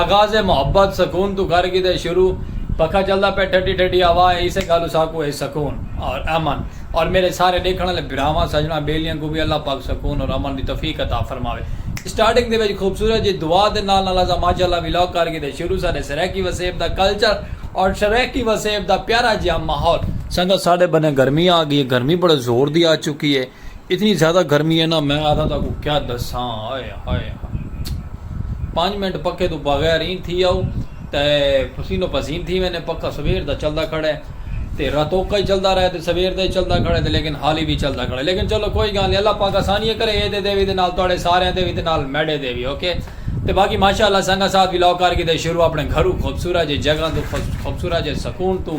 آغاز محبت سکون توں کر گھدے شروع پکھا چلدا پئے ٹھڈی ٹھڈی ہوا ہے اسے گالوں ساکوں ہے سکون اور امن اور میرے سارے ڈیکھن آلے بھراواں سجناں بیلیاں کوں وی اللہ پاک سکون اور امن دی توفیق عطا فرماوے سٹارٹنگ دے وچ خوبصورت جی دعا دے نال نال اساں ماشاءاللہ ولاگ کر گھدے شروع ساڈے سرائیکی وسیب دا کلچر اور سرائیکی وسیب دا پیارا جیہا ماحول سنگت ساڈے بنے گرمی آ گئی ہے گرمی بڑے زور دی آ چکی ہے۔ اتنی زیادہ گرمی ہے نا میں آدھا تاکو کیا دساں ہائے ہائے ہائے پانچ منٹ پکے تو بغیر این تھی آؤ تے پسین و پسین تھی میں نے پکا سویر دا چلدا کھڑے تے راتوکا ہی چلدا رہے تے سویر دا ہی چلدا کھڑے تے لیکن حالی بھی چلدا کھڑے لیکن چلو کوئی گال نہیں اللہ پاک آسانی ہے کرے اے دے دے وی دے نال توڑے سارے ہیں دے وی دے نال میڈے دے وی اوکے تے باقی ماشاءاللہ سنگا ساتھ وی لاؤ کار کی دے شروع اپنے گھرو خوبصورہ جے جگہ تو خوبصورہ جے سکون تو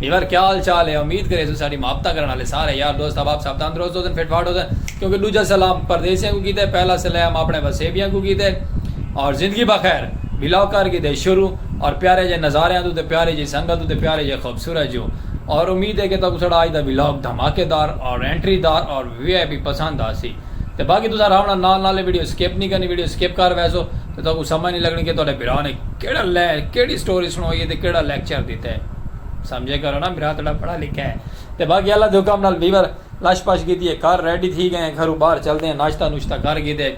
یار کیا حال چال ہے امید کریسوں ساڈی محبتاں کرن آلے سارے یار دوست احباب سب تندرست ہوسن فٹ فاٹ ہوسن کیونکہ ڈوجھا سلام پردیسیاں کوں کیتے پہلا سلام اپنے وسیبیاں کوں کیتے اور زندگی بخیر ولاگ کر گھدے شروع اور پیارے جے نظاریاں توں تے پیاری جی سنگت توں تے پیاری جے خوبصورت جو اور امید ہے کہ تہاکوں ساڈا اج دا ولاگ دھماکے دار اور انٹری دار اور وی آئی پی پسند آسی۔ تے باقی تساں آرام نال نال نال ویڈیو سکپ نی کرنی ویڈیو سکپ کر ویسو تے تہاکوں سمجھ نی لگنی کہ تہاڈے بھرا نے کیڑا لے کیڑی سٹوری سنائی ہے تے کیڑا لیکچر دیتا ہے سمجھے کرو نا بھرا تہاڈا پڑھا لکھا ہے تے باقی اللہ دے حکم نال ویور لش پش کیتی ہے گھر ریڈی تھی گئے ہیں گھروں باہر چلدے ہیں ناشتہ نوشتہ کر گھیدے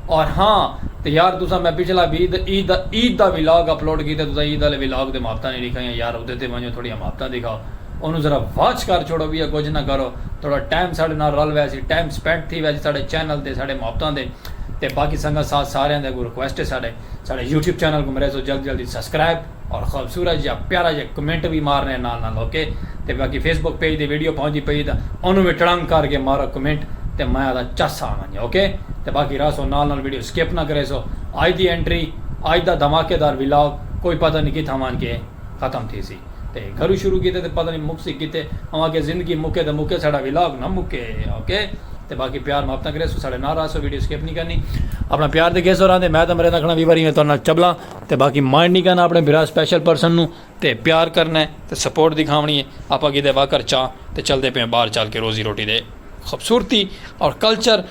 اور ہاں تے یار تساں میں پچھلا وی عید عید دا ولاگ اپلوڈ کیتا تساں عید والے ولاگ تے مابتاں نی ڈکھائیاں یار اودے تے ونجو تھوڑیاں مابتاں دکھاؤ اونوں ذرا واچ کر چھوڑو ٻیا کجھ نہ کرو تھوڑا ٹائم ساڈے نال رل ویسی ٹائم سپینڈ تھی ویسی ساڈے چینل تے ساڈے محبتاں دے تے باقی سنگت ساتھ ساریاں دے اگوں ریکویسٹ ہے ساڈے ساڈے یوٹیوب چینل کوں مریسو جلدی جلدی سبسکرائب اور خوبصورت جیا پیارا جیا کمنٹ وی مارنے نال نال اوکے تے باقی فیس بک پیج تے ویڈیو پہنچدی پئی تاں اونوں وی ٹڑنگ کر کے مارو کمنٹ تے میں آدا چس آ ونجے اوکے تے باقی رہسو نال نال ویڈیو سکپ نہ کریسو اج دی انٹری اج دا دھماکے دار ولاگ کوئی پتہ نی کتھاں ونج کے ختم تھیسی تے گھرو شروع کیتے تے پتہ نی مکسی کتے اوہاں آکھیا زندگی مکے تے مکے ساڈا ولاگ نہ مکے اوکے تے باقی پیار محبتاں کریسو ساڈے نال راہسو ویڈیو سکپ نی کرنی اپنا پیار تے گھیسو راہندے میں تاں مریندہ کھڑاں وی واری میں تہاڈے نال چبلاں تے باقی مائنڈ نی کرنا اپنے بھرا سپیشل پرسن نو تے پیار کرنا ہے تے سپورٹ دکھاونی ہے آپاں کیتے واکر چاں تے چلدے پے آں باہر چل کے روزی روٹی دے خوبصورتی اور کلچر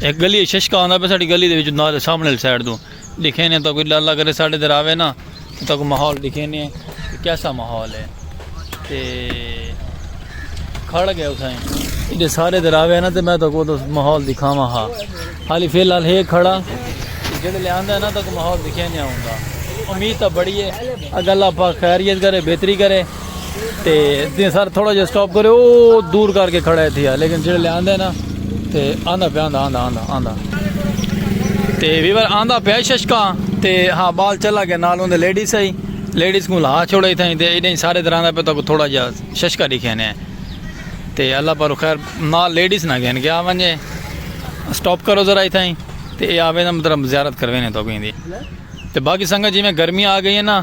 ایک گلی ہے ششکا آندا پہ ساڑی گلی دے وچ نال سامنے والی سائیڈ دو دیکھے نے تو کوئی ڈر لگ رہے ساڑے در آوے نا تو کوئی ماحول دیکھے نے کیسا ماحول ہے تے کھڑ گئے اسائیں ایڈے سارے در آوے نا تے میں تو کو تو ماحول دکھاواں ہا حالی فی الحال ہے کھڑا جڑے لے آندا نا تو کوئی ماحول دیکھے نے آوندا امید تا بڑی ہے اگر اللہ پاک خیریت کرے بہتری کرے تے دین سر تھوڑا جا سٹاپ کرے او دور کر کے کھڑا ہے تھیا لیکن جڑے لے آندے نا تے آندا پہ آندا آندا آندا آندا تے ویور آندا پہ ششکا تے ہاں بال چلا گیا نال ہوندے لیڈیز ہے لیڈیز کو لہا چھوڑے تھا تے ایڈے سارے در آندا پہ تو تھوڑا جا ششکا دکھے نے تے اللہ پر خیر نال لیڈیز نہ گئے کیا ونجے سٹاپ کرو ذرا تھا تے اے آوے نا مطلب زیارت کروینے تو گیندی تے باقی سنگت جی میں گرمی آ گئی ہے نا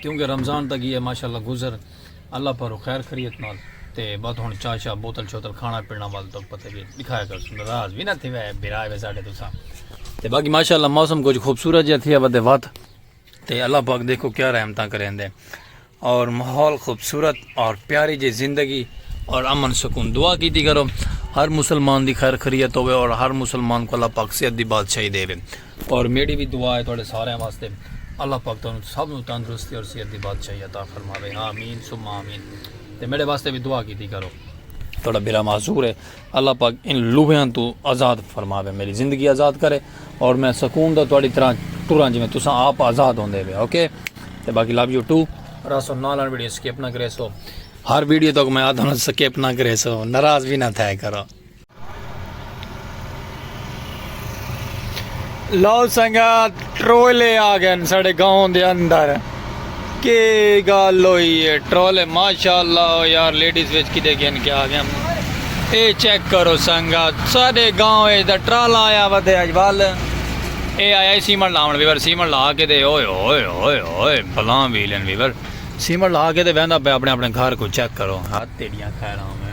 کیونکہ رمضان تاں گیا ماشاء اللہ گزر اللہ پارو خیر خریت نال تے بات ہن چاہ شاہ بوتل شوتل کھانا پینا وال تو پتہ کہ دکھایا کر سن راز بھی نہ تھی وے بھرا وے ساڈے تو سا تے باقی ماشاء اللہ موسم کچھ خوبصورت جہاں تھی ودے وات تے اللہ پاک دیکھو کیا رحمتاں کریں دے اور ماحول خوبصورت اور پیاری جی زندگی اور امن سکون دعا کیتی کرو ہر مسلمان دی خیر خریت ہوئے اور ہر مسلمان کو اللہ پاک صحت دی بادشاہی دے وے اور میڈی وی دعا ہے تہاڈے سارے واسطے اللہ پاک تہانوں سب نو تندرستی اور صحت دی بادشاہی عطا فرماوے آمین ثم آمین تے میڈے واسطے بھی دعا کیتی کرو تھوڑا برا معذور ہے اللہ پاک ان لوہیاں تو آزاد فرماوے میری زندگی آزاد کرے اور میں سکون دا تھوڑی طرح ٹوراں جی میں تساں آپ آزاد ہوندے وے اوکے تے باقی لو یو ٹو راسو نال ویڈیو سکپ نہ کرے سو ہر ویڈیو تک میں آدھا سکپ نہ کرے سو ناراض بھی نہ تھا کرو لو سنگا ٹرولے آ گئے ساڑے گاؤں دے اندر کے گال ہوئی ہے ٹرولے ماشاءاللہ ہو یار لیڈیز ویچ کی دے گئے ان کے آ گئے اے چیک کرو سنگا ساڑے گاؤں ہے دا ٹرالا آیا ہوا دے آج وال اے آیا ہے سیمن لاؤن ویور سیمن لا کے دے اوئے اوئے اوئے اوئے بلان ویلن ویور سیمن لا کے دے ویندہ پہ اپنے اپنے گھر کو چیک کرو ہاتھ تیڑیاں کھائے رہا ہوں میں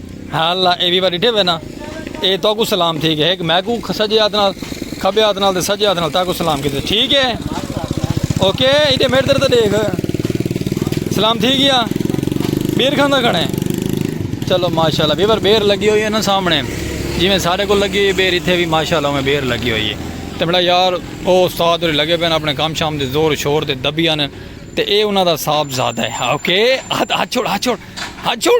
ہالا اے ویوا ڈٹھے وے نا اے تو کو سلام تھی گئے ایک میں کو سجے ہاتھ نال کھبے ہاتھ نال تے سجے ہاتھ نال تا کو سلام کیتے ٹھیک ہے اوکے ایڈے میرے در تے دیکھ سلام تھی گیا بیر کھاندا کھڑے چلو ماشاءاللہ ویور بیر لگی ہوئی ہے نا سامنے جی میں سارے کو لگی ہوئی بیر ایتھے بھی ماشاءاللہ میں بیر لگی ہوئی ہے تے بڑا یار او استاد اور لگے پین اپنے کام شام دے زور شور دے دبیاں نے تے اے انہاں دا صاحب زادہ ہے اوکے ہاتھ چھوڑ ہاتھ چھوڑ ہاتھ چھوڑ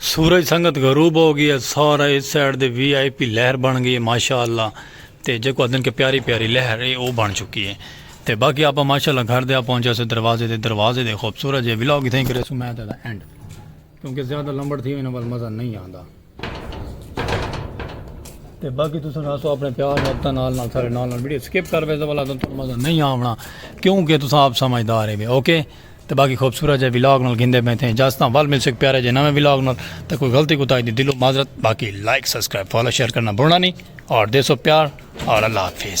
سورج سنگت غروب ہو گئی ہے سارا اس سائیڈ دے وی آئی پی لہر بن گئی ہے ماشاءاللہ تے جیکو ادن کے پیاری پیاری لہر ہے او بن چکی ہے تے باقی آپا ماشاءاللہ گھر دے آ پہنچا سے دروازے دے دروازے دے خوبصورت جے ولاگ تھیں کرے سو میں تے دا اینڈ کیونکہ زیادہ لمبڑ تھی ہوئی نا بل مزہ نہیں آندا تے باقی تو سن ہاسو اپنے پیار میں اپنا نال نال سارے نال نال ویڈیو سکپ کر بیسا والا تو مزہ نہیں آونا کیونکہ تو سن آپ سمجھدار ہے اوکے تے باقی خوبصورت جے ولاگ نال گھندے پئے تھے اجازتاں ول ملسوں اک پیارے جے نویں ولاگ نال تے کوئی غلطی کوتاہی دی دلوں معذرت باقی لائک سبسکرائب فالو شیئر کرنا بھولنا نہیں اور دیسو پیار اور اللہ حافظ